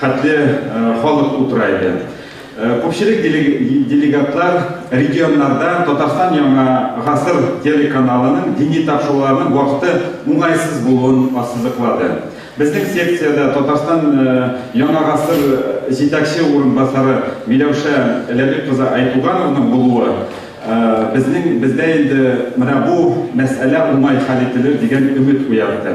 Хәтле халык утыра иде. Күпчелек делегатлар регионнарда Татарстан Яңа гасыр телеканалының дини тапшыруларның вакыты уңайсыз булуын ассызыклады. Безнең секциядә Татарстан Яңа гасыр җитәкче урынбасары Миләүшә Ләбиб кызы Айтугановның булуы безнең бездә инде менә бу мәсьәлә уңай хәл ителер дигән өмет уятты.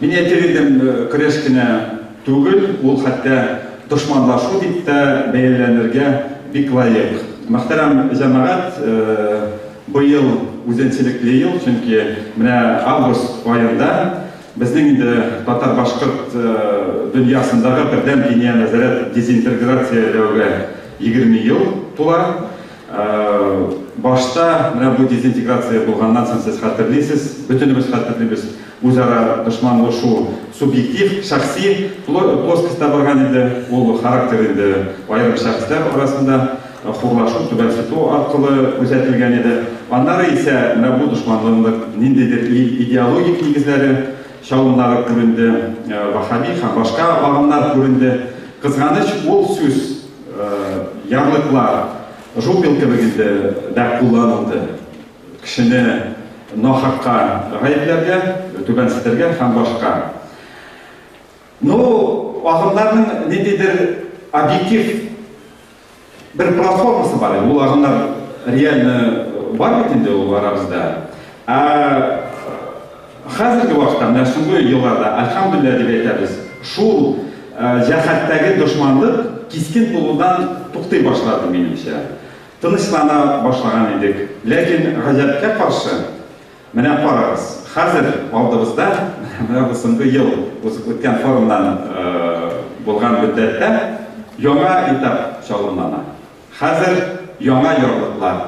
Мин әйтер идем, көрәш кенә түгел, ул хәтта дошманлашу дип тә бәяләнергә бик лаек. Мөхтәрәм җәмәгать, быел үзенчелекле ел, чөнки менә август аенда безнең инде татар-башкорт дөньясындагы бердәм диния нәзарәт дезинтерграцияләүгә егерме ел тула. Башта менә бу дезинтеграция булганнан соң сез хәтерлисез, бөтенебез хәтерлибез, үзара дошманлашу субъектив, шәхси плоскостьта барган иде, ул характер инде аерым шәхесләр арасында хурлашу, түбәнсетү аркылы күзәтелгән иде. Аннары исә менә бу дошманлыкның ниндидер идеологик нигезләре, чалымнары күренде, ваһһаби һәм башка агымнар күренде. Кызганыч, ул сүз. Ярлыклар, жупел кебек инде, дә кулланылды. Кешене нахакка гаепләргә, түбәнсетергә һәм башка. Ну, агымнарның ниндидер объектив бер платформасы бар инде, ул агымнар реально бар бит инде ул арабызда. Ә Хәзерге вакытта, менә соңгы елларда, әлхәмдүлилләһ дип әйтәбез, шул җәһәттәге дошманлык кискен булудан туктый башлады, минемчә. Тынычлана башлаган идек. Ләкин гаҗәпкә каршы, менә карагыз, хәзер алдыбызда, менә бу соңгы ел узып үткән форумнан булган мөддәттә яңа этап чалымлана. Хәзер яңа яулыклар,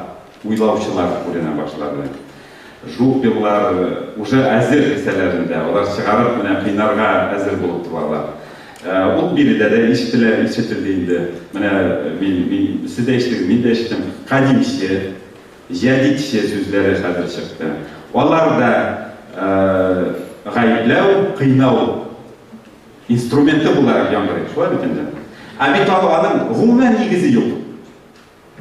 Уйлаучылар күренә башлады. Жук еллар уже әзер дисәләрен дә, алар чыгарып менә кыйнарга әзер булып торалар. Ул биредә дә ишетелә, ишетелде инде. Менә мин, мин, сез дә ишетегез, мин дә ишеттем. Кадимче, җәдитче сүзләре хәзер чыкты. Алар да гаепләү, кыйнау инструменты буларак яңгырый. Шулай бит инде. Ә бит аларның гомумән нигезе юк.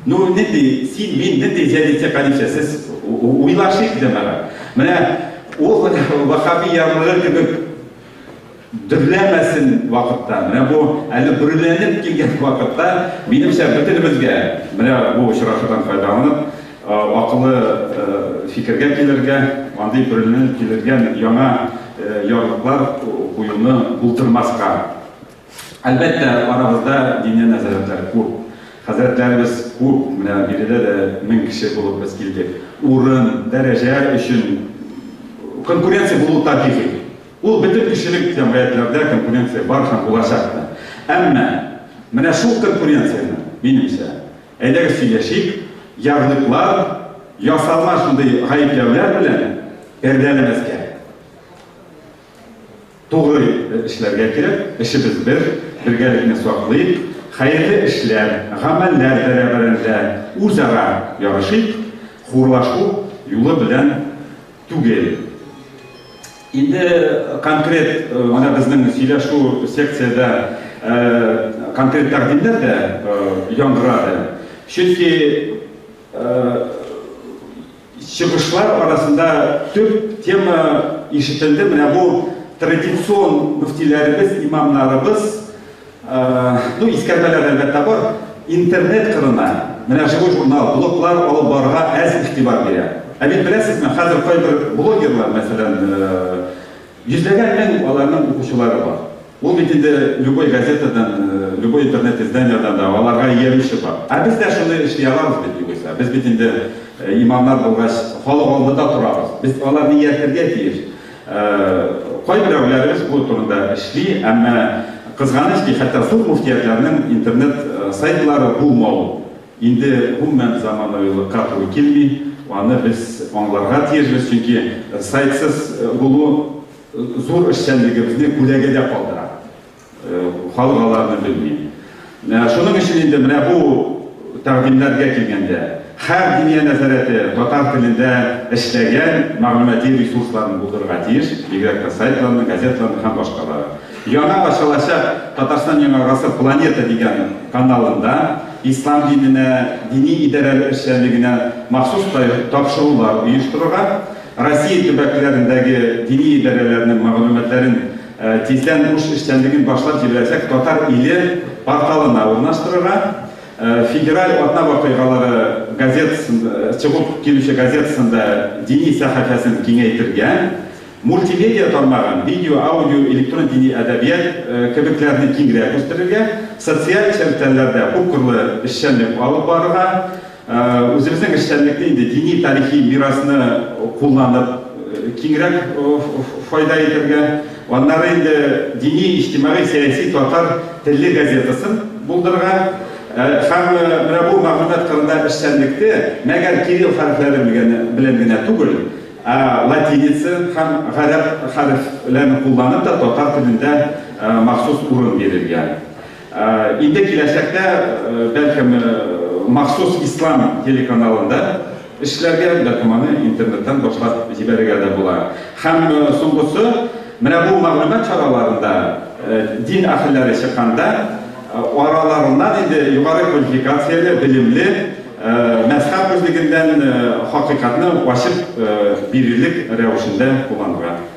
Ну, нинди, син, мин, нинди җәдитчә кадичә, сез уйлашыйк дә мәрә. Менә ул вахаби ярлыгы кебек дөрләмәсен вакытта, менә бу әле бүрләнеп килгән вакытта, минемчә бөтенебезгә, менә бу очрашудан файдаланып, акылы фикергә килергә, андый бүрләнеп килергән яңа ярлыклар куюны булдырмаска Әлбәттә, арабызда диннән нәзарәтләр күп. Хәзрәтләребез күп. Менә биредә дә мең кеше булып без килдек. Урын, дәрәҗә өчен конкуренция булуы табигый. Ул бөтен кешелек җәмгыятьләрдә конкуренция бар һәм булачак та. Әмма менә шул конкуренцияне, минемчә, әйдәгез сөйләшик, ярлыклар, ясалма шундый гаепләүләр белән пәрдәләмәскә. Тугры эшләргә кирәк, эшебез бер, бергәлекне саклыйк, хәерле эшләр, гамәлләр бәрабәрендә үзара ярышыйк, хурлашу юлы белән түгел. Инде конкрет, менә безнең сөйләшү секциядә конкрет тәкъдимнәр дә яңгырады. Чөнки Чыгышлар арасында төп тема ишетелде, менә бу традицион мөфтиләребез, имамнарыбыз, ну, искәрмәләр әлбәттә бар, интернет кырына, менә Живой журнал, блоглар алып барырга әз игътибар бирә. Ә бит беләсезме, хәзер кайбер блогерлар, мәсәлән, йөзләгән мең аларның укучылары бар. Ул бит инде любой газетадан, любой интернет изданиедән дә аларга иярүче бар. Ә без дә шуны эшли алабыз бит югыйсә. Без бит инде имамнар булгач, халык алдында торабыз. Без аларны ияртергә тиеш. Кайберәүләребез бу турында эшли, әмма кызганыч ки, хәтта зур мөфтиятләрнең интернет сайтлары булмау инде гомумән заманаилыкка туры килми. Аны без аңларга тиешбез, чөнки сайтсыз булу, Зур эшчәнлегебезне күләгәдә калдыра. Халык аларны белми. Шуның өчен инде менә бу тәкъдимнәргә килгәндә, һәр диния нәзарәте татар телендә эшләгән мәгълүмати ресурсларны булдырырга тиеш, бигрәк тә сайтларны, газетларны һәм башкалары. Яңа ачылачак Татарстан Яңа гасыр планета дигән каналында ислам диненә, дини идарәләр эшчәнлегенә махсус тапшырулар оештырырга, Россия төбәкләрендәге дини идарәләрнең мәгълүматларын тиздән буш эшчәнлеген башлап җибәрәчәк Татар иле порталына урнаштырырга, Федераль атна вакыйгалары газетасын чыгып килүче газетасында дини сәхәфәсен киңәйтергә, мультимедиа тармагын, видео, аудио, электрон дини әдәбият, кебекләрне киңрәк үстерергә, социаль челтәрләрдә күпкырлы эшчәнлек алып барырга, Үзебезнең эшчәнлекне инде дини тарихи мирасны кулланып киңрәк файда итәргә, аннары инде дини, иҗтимагый, сәяси татар телле газетасын булдырырга һәм менә бу мәгълүмат кырында эшчәнлекне мәгәр кирилл хәрефләре белән генә түгел, ә латиница һәм гарәп хәрефләрен кулланып та татар телендә махсус урын бирергә. Инде киләчәктә, бәлкем, махсус ислам телеканалында эшләргә, бәлкем аны интернеттан башлап җибәрергә дә була. Һәм соңгысы, менә бу мәгълүмат чараларында дин әһелләре чыкканда, араларыннан инде югары квалификацияле, белемле, мәзһәб үзлегеннән хакыйкатьне ачып бирерлек рәвешендә кулланырга.